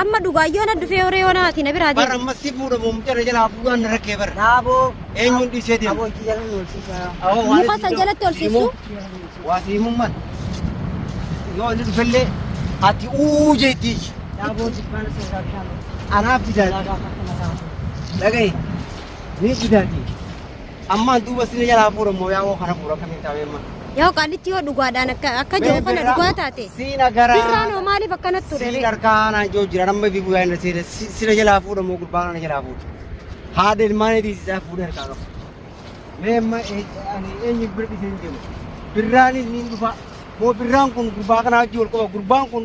Amma dhugaa yoona dhufee horee yoona ati na biraa Bara deemu. ammas si fuudha moo mucaa na jalaa fuudhaan na rakkee bara. Dhaaboo. Eenyuun dhiisee deema? Dhaaboo itti jalatti horsiisaa. Awoo waan Muka itti san jalatti ol siimu. siisu. Waa siimuun mal. Yoo inni dhufellee ati uu jeetti. Dhaaboo jibbaan isa irraa bishaan dhufu. Anaaf Yaa bidaati. gaafa kana taatu. Dhagaye. Ni bidaati. Ammaan duuba sina jalaa fuudha immoo yaa woo kana fuudha akkamiin taa'ee amma. Yaa qaalitti yoo dhugaadhaan akka akka jiru kana dhugaa taate. Siina garaa. Birraan hoo maaliif akkanatti ture? Siin harkaa anaan joo jira namma fi guyyaa inni seena sina jalaa fuudha immoo gurbaan ana jalaa fuudha. Haadha ilmaan eetii isaa fuudha harkaa qabu. Mee amma ani eenyu bira dhisee hin deemu. Birraanis ni dhufa. Moo birraan kun gurbaa kanaa wajjin wal qaba gurbaan kun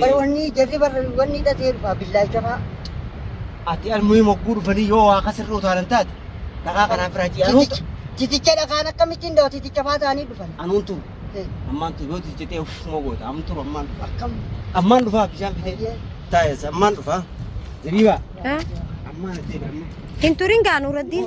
Bari wanni jarri barri wanni hidhatee dhufa billaacha fa'a. Ati almuhii mogguu dhufanii yoo waa kasirra utaalan taate dhagaa kanaan firaa ji'a anuun Titicha titicha dhakaan akkamittiin dawa titicha fa'a ta'anii dhufan. anuun turu Eh, ammaan turu yoo titicha ta'e uffuma goota amun turu ammaan dhufa Akkam. ammaan dhufa bishaan fidee Hayyee. taa'es ammaan dhufa zabiibaa Ha? ammaan ati amma Hin turin gaa Nuuraddiin.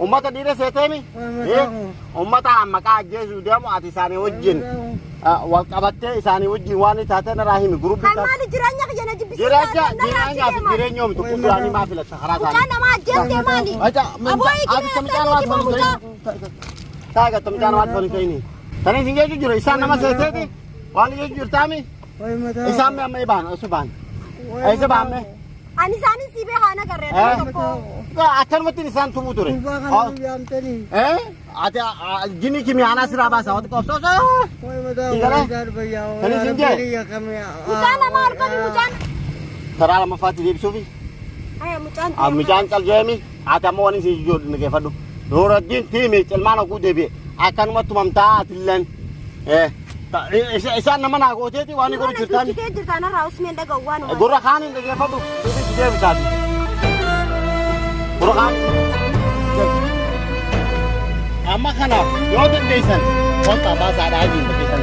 Ummata dhiira seeteemi ummata maqaa ajjeesuu deemu ati isaanii wajjin wal qabattee isaanii wajjin waan taatee irraa himi guruppii taate. Maali jireenya kiyya na jibbisiisa. Jireenya jireenyaa fi jireenya omtu kuduraanii maa filatta karaa isaanii. Mucaan namaa ajjeesee maali? Aboo eegina ati tamicaan waan tolii ta'ini. Taaga tamicaan waan tolii ta'ini. Tani isin jechuun jiru isaan nama seeteeti waan jechuun jirtaami isaan mee amma ibaan osu baan isa baan mee Ani isaanis si beekaa na garree Eh? nama tokko. akkanumatti isaan tumuu ture. Eh? Ati jini kimiyaanaa siraa baasa wati qobsoo Mucaa nama argani mucaan. taraa lammaffaatti deebisuufi Aya mucaan. mucaan caljeemi Ati ammoo wani si jijuu dhaggeeffadhu. Nuuraddiin tiimiic ilmaan oguu deebi'e akkanumatti tumamtaa atilleen. Eh, ta- i- isa- Isaan nama naa gooteeti waan ni godhu jirtaan. Kee jirtaan irraa usmeen dhaga'u waan uumaa. Gurra kaaniin dhaggeeffadhu. Nuti si deebisaati. Gurra kaan. Amma kana yoo dandeessan wanta baasaadhaa jiru keessan.